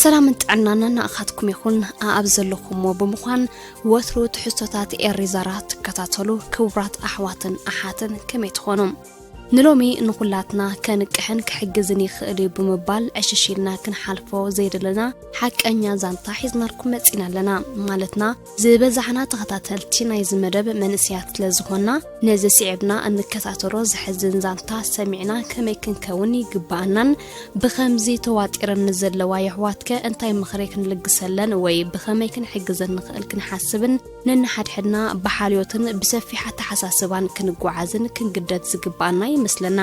ሰላምን ጥዕናን ናናኣኻትኩም ይኹን ኣኣብ ዘለኹሞ ብምዃን ወትሩ ትሕዝቶታት ኤሪዛራ ትከታተሉ ክቡራት ኣሕዋትን ኣሓትን ከመይ ትኾኑ ንሎሚ ንኹላትና ከንቅሕን ክሕግዝን ይኽእል እዩ ብምባል ዕሽሽ ኢልና ክንሓልፎ ዘይደለና ሓቀኛ ዛንታ ሒዝናልኩም መፂና ኣለና ማለትና ዝበዛሕና ተኸታተልቲ ናይዚ መደብ መንእሰያት ስለ ዝኾንና ነዚ ስዒብና እንከታተሎ ዘሕዝን ዛንታ ሰሚዕና ከመይ ክንከውን ይግብኣናን ብኸምዚ ተዋጢረን ንዘለዋ የሕዋትከ እንታይ ምኽሪ ክንልግሰለን ወይ ብኸመይ ክንሕግዘን ንኽእል ክንሓስብን ነንሓድሕድና ብሓልዮትን ብሰፊሕ ኣተሓሳስባን ክንጓዓዝን ክንግደድ ዝግብኣና ይመስለና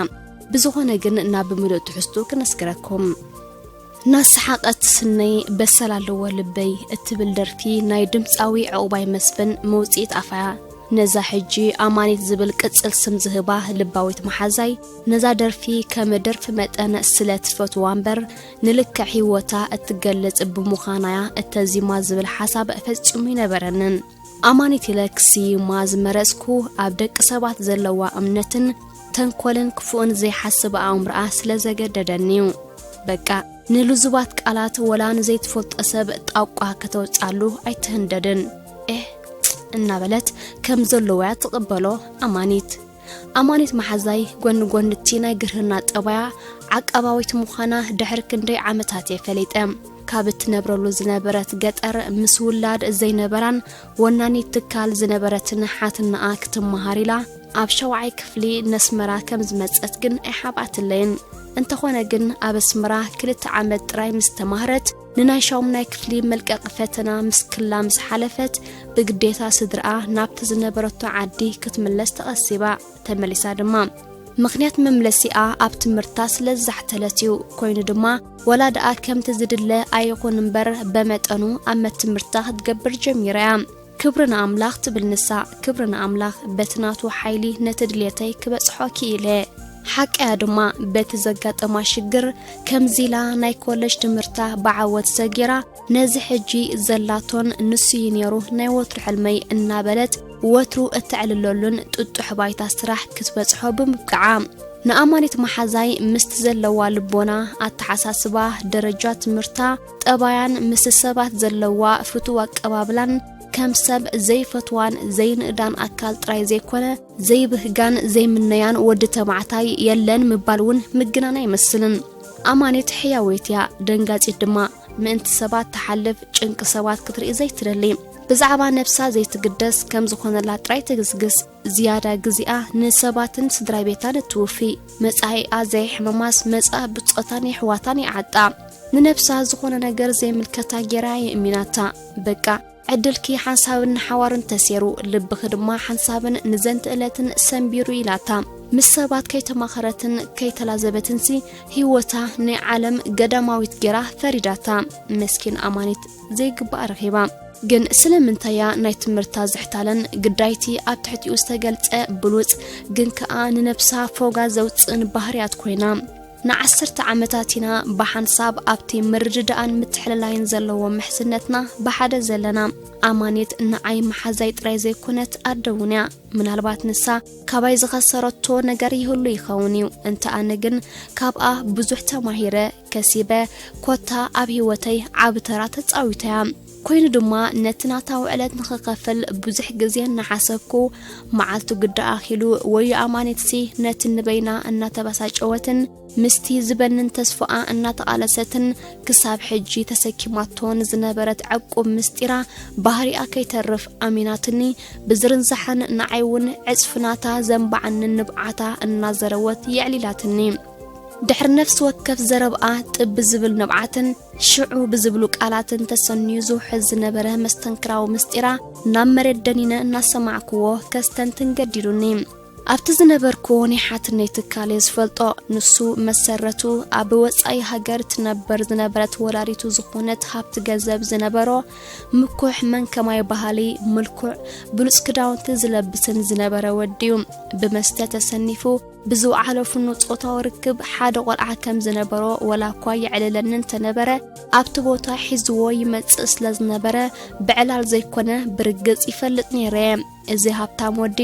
ብዝኾነ ግን ናብ ምሉእ ትሕዝቱ ክነስግረኩም ናሰሓቐት ስነይ በሰል ኣለዎ ልበይ እትብል ደርፊ ናይ ድምፃዊ ዕቑባይ መስፍን መውፅኢት ኣፋያ ነዛ ሕጂ ኣማኒት ዝብል ቅፅል ስም ዝህባ ልባዊት መሓዛይ ነዛ ደርፊ ከም ደርፊ መጠን ስለ ትፈትዋ እምበር ንልክዕ ህይወታ እትገልፅ ብምዃናያ እተዚማ ዝብል ሓሳብ ፈፂሙ ይነበረንን ኣማኒት ኢለ ክስይማ ዝመረጽኩ ኣብ ደቂ ሰባት ዘለዋ እምነትን ተንኮልን ክፉእን ዘይሓስብ ኣእምሮኣ ስለ ዘገደደኒዩ በቃ ንልዙባት ቃላት ወላ ንዘይትፈልጦ ሰብ ጣቋ ከተውጻሉ ኣይትህንደድን ኤህ እናበለት ከም ዘለዎያ ትቕበሎ ኣማኒት ኣማኒት መሓዛይ ጎኒ ጎኒ እቲ ናይ ግርህና ጠባያ ዓቃባዊት ምዃና ድሕሪ ክንደይ ዓመታት እየ ፈሊጠ ካብ እትነብረሉ ዝነበረት ገጠር ምስ ውላድ ዘይነበራን ወናኒት ትካል ዝነበረትን ሓትናኣ ክትመሃር ኢላ ኣብ ሸውዓይ ክፍሊ ነስመራ ከም ዝመጸት ግን ኣይሓብኣትለይን እንተኾነ ግን ኣብ ኣስመራ ክልተ ዓመት ጥራይ ምስ ተማህረት ንናይ ሻሙናይ ክፍሊ መልቀቂ ፈተና ምስ ክላ ምስ ሓለፈት ብግዴታ ስድርኣ ናብቲ ዝነበረቶ ዓዲ ክትምለስ ተቐሲባ ተመሊሳ ድማ ምኽንያት መምለሲኣ ኣብ ትምህርታ ስለ ዝዛሕተለት እዩ ኮይኑ ድማ ወላ ደኣ ከምቲ ዝድለ ኣይኹን እምበር በመጠኑ ኣመት ትምህርታ ክትገብር ጀሚራ እያ ክብሪ ንኣምላኽ ትብል ንሳ፣ ክብሪ ንኣምላኽ በቲ ናቱ ሓይሊ ነቲ ድልየተይ ክበጽሖ ክኢለ። ሓቀያ ድማ በቲ ዘጋጠማ ሽግር ከምዚ ኢላ ናይ ኮለጅ ትምህርታ ብዓወት ሰጊራ ነዚ ሕጂ ዘላቶን ንሱ እዩ ነይሩ ናይ ወትሩ ሕልመይ እናበለት ወትሩ እተዕልለሉን ጥጡሕ ባይታ ስራሕ ክትበጽሖ ብምብቅዓ ንኣማኒት መሓዛይ ምስቲ ዘለዋ ልቦና ኣተሓሳስባ ደረጃ ትምህርታ ጠባያን ምስ ሰባት ዘለዋ ፍቱው ኣቀባብላን ከም ሰብ ዘይፈትዋን ዘይንእዳን ኣካል ጥራይ ዘይኮነ ዘይብህጋን ዘይምነያን ወዲ ተባዕታይ የለን ምባል እውን ምግናን ኣይመስልን ኣማኒት ሕያወይት እያ ደንጋጺት ድማ ምእንቲ ሰባት ትሓልፍ ጭንቂ ሰባት ክትርኢ ዘይትደሊ ብዛዕባ ነብሳ ዘይትግደስ ከም ዝኾነላ ጥራይ ትግስግስ ዝያዳ ግዜኣ ንሰባትን ስድራቤታን እትውፊ መጻኢኣ ዘየሕመማስ መጻእ ብጾታን የሕዋታን ይዓጣ ንነብሳ ዝኾነ ነገር ዘይምልከታ ጌራ የእሚናታ በቃ ዕድልኪ ሓንሳብን ንሓዋሩን ተሴሩ ልብኺ ድማ ሓንሳብን ንዘንቲ ዕለትን ሰንቢሩ ኢላታ ምስ ሰባት ከይተማኸረትን ከይተላዘበትንሲ ህይወታ ናይ ዓለም ገዳማዊት ጌራ ፈሪዳታ መስኪን ኣማኒት ዘይግባኣ ረኺባ። ግን ስለምንታይ እያ ናይ ትምህርታ ዝሕታለን ግዳይቲ ኣብ ትሕቲኡ ዝተገልጸ ብሉጽ ግን ከኣ ንነብሳ ፎጋ ዘውጽእን ባህርያት ኮይና ንዓሰርተ ዓመታት ኢና ብሓንሳብ ኣብቲ ምርድዳኣን ምትሕልላይን ዘለዎ ምሕዝነትና ብሓደ ዘለና ኣማኒት ንዓይ መሓዛይ ጥራይ ዘይኮነት ኣደ እውን እያ ምናልባት ንሳ ካባይ ዝኸሰረቶ ነገር ይህሉ ይኸውን እዩ እንተ ኣነ ግን ካብኣ ብዙሕ ተማሂረ ከሲበ ኮታ ኣብ ህይወተይ ዓቢ ተራ ተጻዊታ እያ ኮይኑ ድማ ነቲ ናታ ውዕለት ንኽኸፍል ብዙሕ ግዜ እናሓሰብኩ መዓልቱ ግዳ ኣኺሉ ወዮ ኣማኒትሲ ነቲ ንበይና እናተበሳጨወትን ምስቲ ዝበንን ተስፋኣ እናተቓለሰትን ክሳብ ሕጂ ተሰኪማቶን ዝነበረት ዕቁብ ምስጢራ ባህሪኣ ከይተርፍ ኣሚናትኒ ብዝርንዛሕን ንዓይ እውን ዕጽፍናታ ዘንባዕንን ንብዓታ እናዘረወት የዕሊላትኒ ድሕሪ ነፍሲ ወከፍ ዘረብኣ ጥብ ብዝብል ንብዓትን ሽዑ ብዝብሉ ቃላትን ተሰንዩ ዝውሕዝ ዝነበረ መስተንክራዊ ምስጢራ ናብ መሬት ደኒነ እናሰማዕክዎ ከስተንትን ገዲዱኒ። ኣብቲ ዝነበርክዎ ናይ ሓትነይ ትካል እየ ዝፈልጦ። ንሱ መሰረቱ ኣብ ወጻኢ ሃገር ትነበር ዝነበረት ወላዲቱ ዝኾነት ሃብቲ ገንዘብ ዝነበሮ ምኩሕ መን ከማይ ባህሊ ምልኩዕ ብሉጽ ክዳውንቲ ዝለብስን ዝነበረ ወዲዩ ብመስተ ተሰኒፉ ብዝወዓለፍኑ ጾታዊ ርክብ ሓደ ቆልዓ ከም ዝነበሮ ወላ እኳ የዕልለኒ እንተነበረ ኣብቲ ቦታ ሒዝዎ ይመጽእ ስለ ዝነበረ ብዕላል ዘይኮነ ብርግጽ ይፈልጥ ነይረ እየ እዚ ሃብታም ወዲ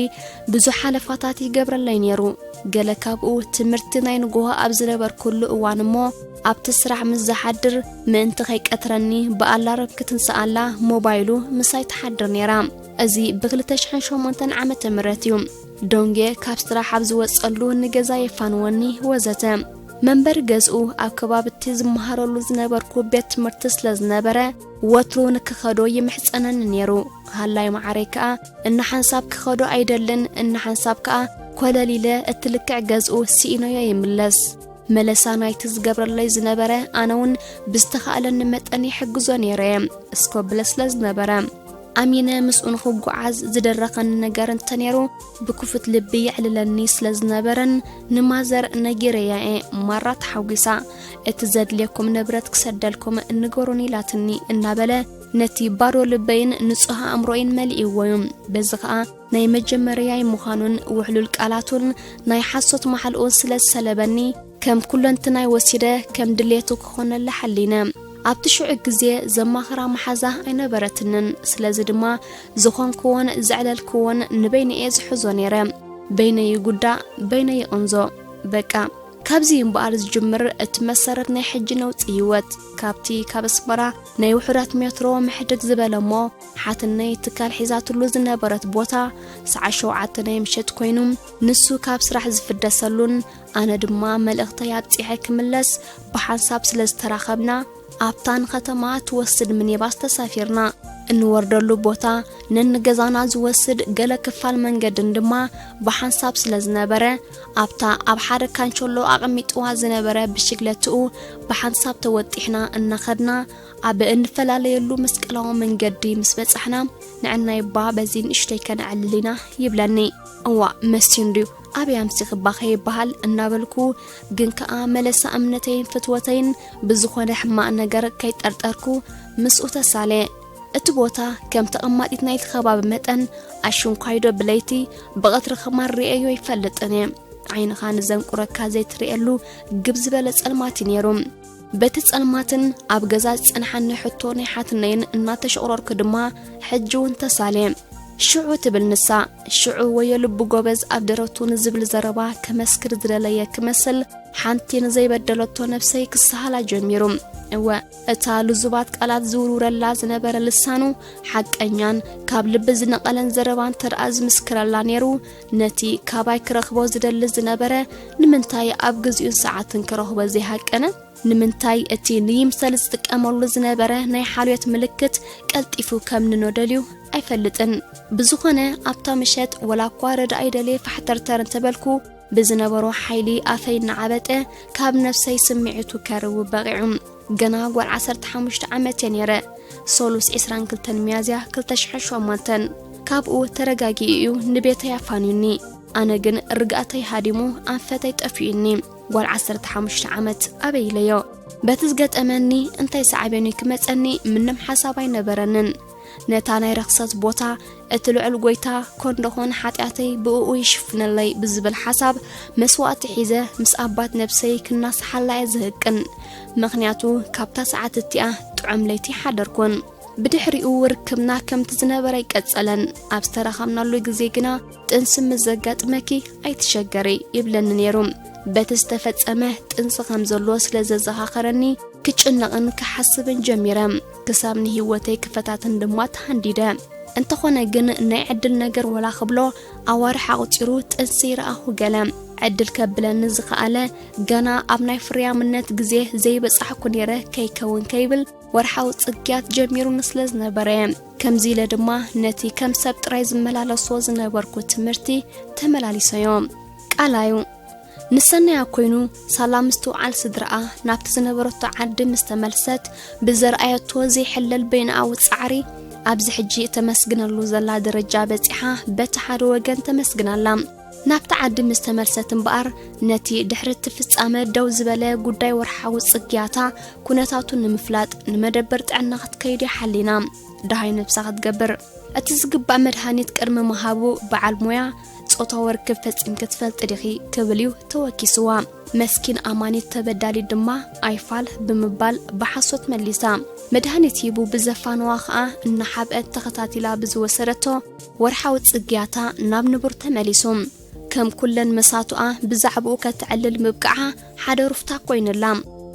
ብዙሕ ሓለፋታት ይገብረለይ ነይሩ ገለ ካብኡ ትምህርቲ ናይ ንግሆ ኣብ ዝነበርኩሉ እዋን እሞ ኣብቲ ስራሕ ምስ ዝሓድር ምእንቲ ከይቀትረኒ ብኣላረም ክትንስኣላ ሞባይሉ ምሳይ ትሓድር ነይራ እዚ ብ2008 ዓ ም እዩ ዶንጌ ካብ ስራሕ ኣብ ዝወጸሉ ንገዛ የፋንወኒ ወዘተ መንበሪ ገዝኡ ኣብ ከባብቲ ዝመሃረሉ ዝነበርኩ ቤት ትምህርቲ ስለ ዝነበረ ወትሩ ንክኸዶ ይምሕጸነኒ ነይሩ ሃላይ መዓረይ ከኣ እናሓንሳብ ክኸዶ ኣይደልን እናሓንሳብ ከኣ ኮለሊለ እቲ ልክዕ ገዝኡ ስኢኖዮ ይምለስ መለሳ ናይቲ ዝገብረለይ ዝነበረ ኣነ እውን ብዝተኻእለኒ መጠን ይሕግዞ ነይረ እየ እስኮብለ ስለ ዝነበረ ኣሚነ ምስኡ ንኽጓዓዝ ዝደረኸኒ ነገር እንተነይሩ ብክፉት ልቢ የዕልለኒ ስለ ዝነበረን ንማዘር ነጊረያ እየ ማራ ተሓጒሳ እቲ ዘድልየኩም ንብረት ክሰደልኩም ንገሩኒ ኢላትኒ እናበለ ነቲ ባዶ ልበይን ንጹህ ኣእምሮይን መሊእዎ እዩ በዚ ኸኣ ናይ መጀመርያይ ምዃኑን ውሕሉል ቃላቱን ናይ ሓሶት ማሓልኡን ስለ ዝሰለበኒ ከም ኩለንትናይ ወሲደ ከም ድሌቱ ክኾነላ ሓሊነ። ኣብቲ ሽዑ ግዜ ዘማኽራ መሓዛ ኣይነበረትንን። ስለዚ ድማ ዝኾንክዎን ዘዕለልክዎን ንበይነ'የ ዝሕዞ ነይረ። በይነይ ይጉዳእ፣ በይነይ ይቕንዞ። በቃ ካብዚ እዩ እምበኣር ዝጅምር እቲ መሰረት ናይ ሕጂ ነውጺ ህይወት ካብቲ ካብ ኣስመራ ናይ ውሑዳት ሜትሮ ምሕድግ ዝበለ እሞ ሓትነይ ትካል ሒዛትሉ ዝነበረት ቦታ ሰዓት ሸውዓተ ናይ ምሸት ኮይኑ ንሱ ካብ ስራሕ ዝፍደሰሉን ኣነ ድማ መልእኽተይ ኣብጺሐ ክምለስ ብሓንሳብ ስለ ዝተራኸብና ኣብታ ንኸተማ ትወስድ ምኒባስ ተሳፊርና። እንወርደሉ ቦታ ነንገዛና ዝወስድ ገለ ክፋል መንገድን ድማ ብሓንሳብ ስለ ዝነበረ ኣብታ ኣብ ሓደ ካንቸሎ ኣቐሚጥዋ ዝነበረ ብሽግለትኡ ብሓንሳብ ተወጢሕና እናኸድና ኣብ እንፈላለየሉ መስቀላዊ መንገዲ ምስ በጻሕና ንዕናይባ በዚ ንእሽተይ ከነዕልል ኢና ይብለኒ። እዋእ መስዩ እንድዩ ኣበይ ኣምሲኽባ ከይበሃል እናበልኩ ግን ከኣ መለሳ እምነተይን ፍትወተይን ብዝኾነ ሕማቕ ነገር ከይጠርጠርኩ ምስኡ ተሳልየ። እቲ ቦታ ከም ተቐማጢት ናይቲ ከባቢ መጠን ኣሽንኳይዶ ብለይቲ ብቐትሪ ኸማን ርእየዮ ኣይፈልጥን እየ። ዓይንኻ ንዘንቁረካ ዘይትርእየሉ ግብ ዝበለ ጸልማት እዩ ነይሩ። በቲ ጸልማትን ኣብ ገዛ ዝጸንሓኒ ሕቶ ናይ ሓትነይን እናተሸቑረርኩ ድማ ሕጂ እውን ተሳልየ ሽዑ ትብል ንሳ ሽዑ ወዮ ልቢ ጎበዝ ኣብ ደረቱ ንዝብል ዘረባ ከመስክር ዝደለየ ክመስል ሓንቲ ንዘይበደለቶ ነብሰይ ክሰሃላ ጀሚሩ እወ እታ ልዙባት ቃላት ዝውርውረላ ዝነበረ ልሳኑ ሓቀኛን ካብ ልቢ ዝነቐለን ዘረባ እንተደኣ ዝምስክረላ ነይሩ ነቲ ካባይ ክረኽቦ ዝደሊ ዝነበረ ንምንታይ ኣብ ግዜኡን ሰዓትን ክረኽቦ ዘይሃቀነ? ንምንታይ እቲ ንይምሰል ዝጥቀመሉ ዝነበረ ናይ ሓልዮት ምልክት ቀልጢፉ ከም ንኖደልዩ ኣይፈልጥን። ብዝኾነ ኣብታ ምሸት ወላ እኳ ረዳኢ ደልየ ፋሕተርተር እንተበልኩ ብዝነበሮ ሓይሊ ኣፈይ እናዓበጠ ካብ ነፍሰይ ስምዒቱ ከርውብ በቒዑ። ገና ጓል ዓሰርተ ሓሙሽተ ዓመት እየ ነይረ፣ ሰሉስ ዕስራን ክልተን ሚያዝያ ክልተ ሽሕን ሸሞንተን። ካብኡ ተረጋጊኡ እዩ ንቤተይ ኣፋንዩኒ፣ ኣነ ግን ርግኣተይ ሃዲሙ ኣንፈተይ ጠፊኡኒ። ጓል ዓሰርተ ሓሙሽተ ዓመት ኣበይ ኢለዮ? በቲ ዝገጠመኒ እንታይ ሳዕቤኑ ክመጸኒ ምንም ሓሳብ ኣይነበረንን። ነታ ናይ ርኽሰት ቦታ እቲ ልዑል ጎይታ ኮንደኾን ሓጢኣተይ ብእኡ ይሽፍነለይ ብዝብል ሓሳብ መስዋእቲ ሒዘ ምስ ኣባት ነብሰይ ክናስሓላ እየ ዝህቅን ምክንያቱ ካብታ ሰዓት እቲኣ ጥዑም ለይቲ ሓደርኩን ብድሕሪኡ ርክብና ከምቲ ዝነበረ ይቀጸለን ኣብ ዝተረኸብናሉ ግዜ ግና ጥንሲ ምስ ዘጋጥመኪ ኣይትሸገሪ ይብለኒ ነይሩ በቲ ዝተፈጸመ ጥንሲ ከም ዘሎ ስለ ዘዘኻኸረኒ ክጭነቕን ክሓስብን ጀሚረ ክሳብ ንህይወተይ ክፈታትን ድማ ተሃንዲደ። እንተኾነ ግን ናይ ዕድል ነገር ወላ ክብሎ ኣዋርሕ ኣቑጺሩ ጥንሲ ረኣኹ ገለ ዕድል ከብለኒ ዝኸኣለ ገና ኣብ ናይ ፍርያምነት ግዜ ዘይበጻሕኩ ነይረ ከይከውን ከይብል ወርሓዊ ጽግያት ጀሚሩኒ ስለ ዝነበረ ከምዚ ኢለ ድማ ነቲ ከም ሰብ ጥራይ ዝመላለሶ ዝነበርኩ ትምህርቲ ተመላሊሰዮ ቃላዩ ንሰናያ ኮይኑ ሳላ ምስትውዓል ስድራኣ ናብቲ ዝነበረቶ ዓዲ ምስ ተመልሰት ብዘርኣየቶ ዘይሕለል በይንኣዊ ጻዕሪ ኣብዚ ሕጂ እተመስግነሉ ዘላ ደረጃ በጺሓ በቲ ሓደ ወገን ተመስግን ኣላ ናብቲ ዓዲ ምስ ተመልሰት እምበኣር ነቲ ድሕሪ እቲ ፍጻመ ደው ዝበለ ጉዳይ ወርሓዊ ጽግያታ ኩነታቱ ንምፍላጥ ንመደበር ጥዕና ክትከይድ ይሓሊና ደሃይ ነብሳ ክትገብር እቲ ዝግባእ መድሃኒት ቅድሚ ምሃቡ በዓል ሞያ ጾታዊ ርክብ ፈጺምኪ ትፈልጢ ዲኺ ክብል እዩ ተወኪስዋ መስኪን ኣማኒት ተበዳሊት ድማ ኣይፋል ብምባል ብሓሶት መሊሳ መድሃኒት ሂቡ ብዘፋነዋ ኸኣ እናሓብአት ተኸታቲላ ብዝወሰደቶ ወርሓዊ ጽግያታ ናብ ንቡር ተመሊሱ ከም ኩለን መሳቱኣ ብዛዕባኡ ከተዕልል ምብቃዓ ሓደ ሩፍታ ኮይንላ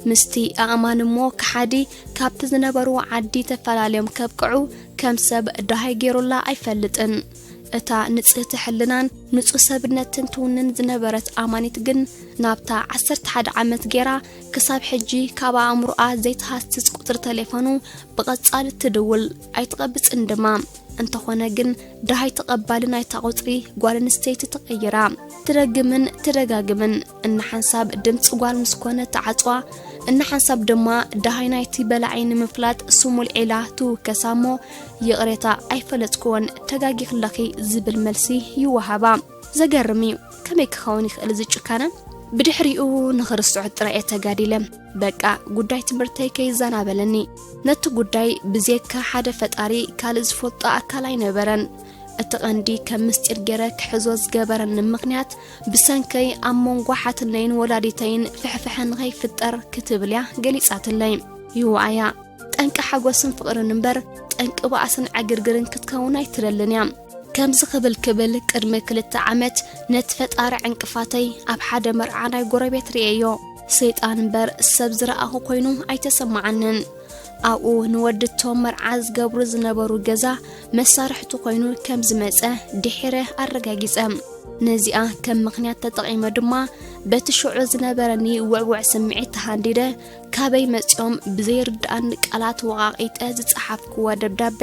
ምስቲ ኣእማን እሞ ከሓዲ ካብቲ ዝነበርዎ ዓዲ ተፈላለዮም ከብቅዑ ከም ሰብ ደሃይ ገይሩላ ኣይፈልጥን እታ ንጽህቲ ሕልናን ንጹህ ሰብነትን ትውንን ዝነበረት ኣማኒት ግን ናብታ ዓሰርተ ሓደ ዓመት ገይራ ክሳብ ሕጂ ካብ ኣእምሮኣ ዘይተሃስስ ቁጽሪ ተሌፎኑ ብቐጻሊ ትድውል ኣይትቐብጽን ድማ እንተኾነ ግን ድሃይ ተቐባሊ ናይታ ቁጽሪ ጓል ኣንስተይቲ ተቐይራ ትደግምን ትደጋግምን እናሓንሳብ ድምፂ ጓል ምስ ኮነ ተዓፅዋ እናሓንሳብ ድማ ድሃይ ናይቲ በላዒ ንምፍላጥ ስሙል ዒላ ትውከሳ እሞ ይቕሬታ ኣይፈለጥክዎን ተጋጊክለኺ ዝብል መልሲ ይወሃባ። ዘገርም እዩ ከመይ ክኸውን ይኽእል እዚ ጭካነ? ብድሕሪኡ ንኽርስዖ ጥራይ እየ ተጋዲለ በቃ ጉዳይ ትምህርተይ ከይዛናበለኒ ነቲ ጉዳይ ብዜካ ሓደ ፈጣሪ ካልእ ዝፈልጦ ኣካል ኣይነበረን እቲ ቐንዲ ከም ምስጢር ገይረ ክሕዞ ዝገበረኒ ምኽንያት ብሰንከይ ኣብ መንጎ ሓትነይን ወላዲተይን ፍሕፍሐ ንኸይፍጠር ክትብል እያ ገሊጻትለይ ይዋኣያ ጠንቂ ሓጎስን ፍቕርን እምበር ጠንቂ ባእስን ዕግርግርን ክትከውን ኣይትደልን እያ ከምዚ ክብል ክብል ቅድሚ ክልተ ዓመት ነቲ ፈጣሪ ዕንቅፋተይ ኣብ ሓደ መርዓ ናይ ጎረቤት ርእየዮ ሰይጣን እምበር ሰብ ዝረኣኹ ኮይኑ ኣይተሰማዓንን ኣብኡ ንወዲ እቶም መርዓ ዝገብሩ ዝነበሩ ገዛ መሳርሕቱ ኮይኑ ከም ዝመፀ ድሒረ ኣረጋጊፀ ነዚኣ ከም ምኽንያት ተጠቒመ ድማ በቲ ሽዑ ዝነበረኒ ውዕውዕ ስምዒት ተሃንዲደ ካበይ መጺኦም ብዘይርድኣኒ ቃላት ወቓቒጠ ዝጸሓፍክዎ ደብዳበ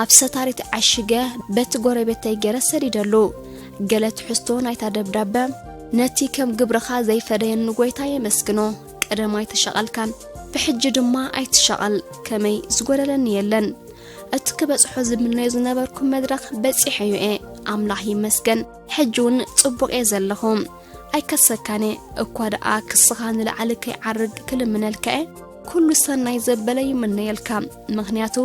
ኣብ ሰታሪት ዓሽገ በቲ ጎረቤተይ ገይረ ሰዲደሉ። ገለ ትሕዝቶ ናይታ ደብዳበ ነቲ ከም ግብርኻ ዘይፈደየኒ ጎይታ የመስግኖ። ቀደም ኣይተሸቐልካን ብሕጂ ድማ ኣይትሸቐል ከመይ ዝጎደለኒ የለን። እቲ ክበጽሖ ዝምነዮ ዝነበርኩ መድረኽ በጺሐዮ እየ ኣምላኽ ይመስገን ሕጂ እውን ጽቡቕ እየ ዘለኹ። ኣይከሰካን እየ እኳ ደኣ ክስኻ ንላዓሊ ከይዓርግ ክልምነልካ እየ ኩሉ ሰናይ ዘበለ ይምነየልካ ምክንያቱ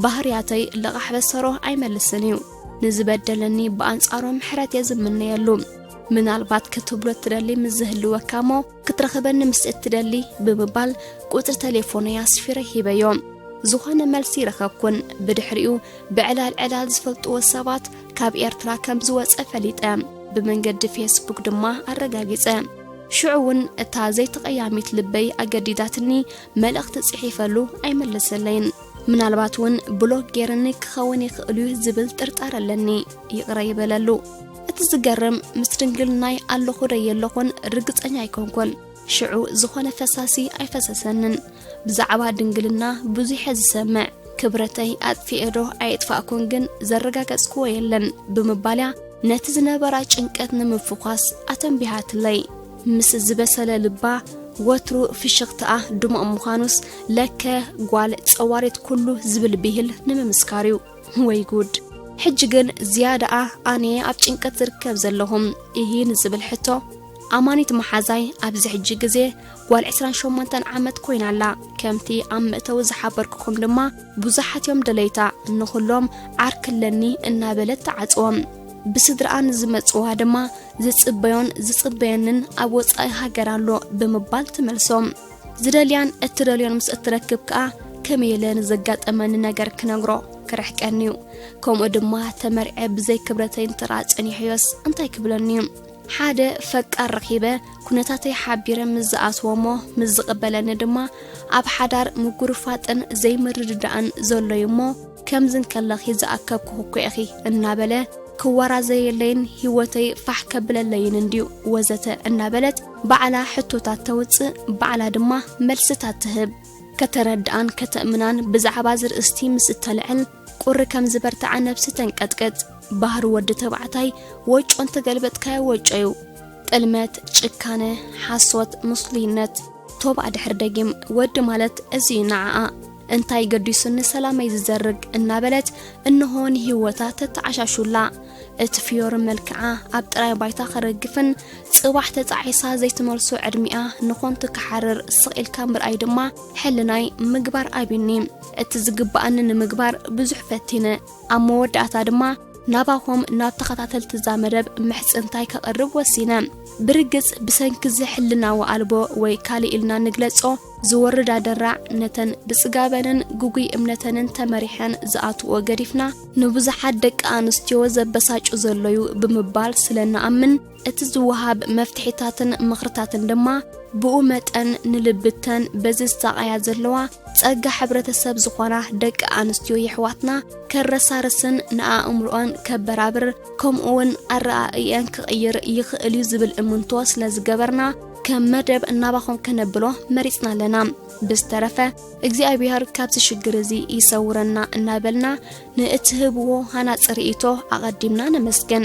ባህርያተይ ልቓሕ በሰሮ ኣይመልስን እዩ ንዝበደለኒ ብኣንጻሮ ምሕረት እየ ዝምነየሉ ምናልባት ክትብሎ እትደሊ ምስ ዝህልወካ እሞ ክትረኽበኒ ምስ እትደሊ ብምባል ቁፅሪ ቴሌፎነይ ኣስፊረ ሂበዮ ዝኾነ መልሲ ረኸብኩን ብድሕሪኡ ብዕላል ዕላል ዝፈልጥዎ ሰባት ካብ ኤርትራ ከም ዝወጸ ፈሊጠ፣ ብመንገዲ ፌስቡክ ድማ ኣረጋጊጸ። ሽዑ እውን እታ ዘይተቐያሚት ልበይ ኣገዲዳትኒ መልእኽቲ ጽሒፈሉ ኣይመለሰለይን። ምናልባት እውን ብሎክ ጌርኒ ክኸውን ይኽእል እዩ ዝብል ጥርጣረ ኣለኒ። ይቕረ ይበለሉ። እቲ ዝገርም ምስ ድንግልናይ ኣለኹ ዶ የለኹን ርግጸኛ ኣይኮንኩን። ሽዑ ዝኾነ ፈሳሲ ኣይፈሰሰንን ብዛዕባ ድንግልና ብዙሐ ዝሰምዕ ክብረተይ ኣጥፊኤዶ ኣየጥፋእኩን ግን ዘረጋገጽክዎ የለን ብምባልያ ነቲ ዝነበራ ጭንቀት ንምፍዃስ ኣተንቢሃትለይ ምስ ዝበሰለ ልባ ወትሩ ፍሽኽትኣ ድሙቕ ምዃኑስ ለከ ጓል ጸዋሪት ኩሉ ዝብል ብሂል ንምምስካር እዩ ወይ ጉድ ሕጂ ግን ዝያዳኣ ኣነየ ኣብ ጭንቀት ዝርከብ ዘለኹም እሂን ዝብል ሕቶ ኣማኒት መሓዛይ ኣብዚ ሕጂ ግዜ ጓል 28 ዓመት ኮይና ኣላ። ከምቲ ኣብ መእተዊ ዝሓበርኩኹም ድማ ብዙሓት እዮም ደለይታ ንኹሎም ዓርክለኒ እናበለት ትዓጽዎም። ብስድራኣን ዝመጽዋ ድማ ዝጽበዮን ዝጽበየንን ኣብ ወጻኢ ሃገር ኣሎ ብምባል ትመልሶም። ዝደልያን እትደልዮን ምስ እትረክብ ከኣ ከመይ ኢለ ንዘጋጠመኒ ነገር ክነግሮ ክርሕቀኒ እዩ ከምኡ ድማ ተመርዐ ብዘይ ክብረተይ እንተረኣ ጸኒሐዮስ እንታይ ክብለኒ እዩ ሓደ ፈቃር ረኺበ ኩነታተይ ሓቢረ ምስ ዝኣስዎ'ሞ ምስ ዝቕበለኒ ድማ ኣብ ሓዳር ምጉርፋጥን ዘይምርድዳእን ዘሎ'ዩ እሞ ከምዚ እንከለኺ ዝኣከብኩ እኮ ኢኺ እናበለ ክወራዘየለይን ህይወተይ ፋሕ ከብለለይን እንድዩ ወዘተ እናበለት ባዕላ ሕቶታት ተውጽእ ባዕላ ድማ መልስታት ትህብ። ከተረድኣን ከተእምናን ብዛዕባ ዝርእስቲ ምስ እተልዕል ቁሪ ከም ዝበርትዓ ነብሲ ተንቀጥቅጥ ባህሪ ወዲ ተባዕታይ ወጮ እንተገልበጥካዮ ወጮ እዩ ጥልመት ጭካነ ሓሶት ምስሉይነት ቶባእ ድሕሪ ደጊም ወዲ ማለት እዚ እዩ ንዓኣ እንታይ ገዲሱኒ ሰላመይ ዝዘርግ እናበለት እንሆ ንህይወታ ተተዓሻሹላ እቲ ፍዮሪ መልክዓ ኣብ ጥራይ ባይታ ክረግፍን ጽባሕ ተጻዒሳ ዘይትመልሶ ዕድሚኣ ንኾንቱ ክሓርር ስቕ ኢልካ ምርኣይ ድማ ሕልናይ ምግባር ኣብኒ እቲ ዝግባኣኒ ንምግባር ብዙሕ ፈቲነ ኣብ መወዳእታ ድማ ናባኹም ናብ ተኸታተልቲ እዛ መደብ ምሕጽንታይ ከቕርብ ወሲነ። ብርግጽ ብሰንኪ እዚ ሕልናዊ ኣልቦ ወይ ካልእ ኢልና ንግለጾ ዝወርድ ኣደራዕ ነተን ብጽጋበንን ግጉይ እምነተንን ተመሪሐን ዝኣትዎ ገዲፍና ንብዙሓት ደቂ ኣንስትዮ ዘበሳጩ ዘሎዩ ብምባል ስለ እንኣምን እቲ ዝወሃብ መፍትሒታትን ምኽርታትን ድማ ብኡ መጠን ንልብተን በዚ ዝሳቐያ ዘለዋ ጸጋ ሕብረተሰብ ዝኾና ደቂ ኣንስትዮ የሕዋትና ከረሳርስን ንኣእምሮኣን ከበራብር ከምኡውን ኣረኣእየን ክቕይር ይኽእል እዩ ዝብል እምንቶ ስለ ዝገበርና ከም መደብ እናባኹም ከነብሎ መሪጽና ኣለና ብዝተረፈ እግዚኣብሔር ካብዚ ሽግር እዚ ይሰውረና እናበልና ንእትህብዎ ሃናፂ ርእቶ ኣቐዲምና ነመስግን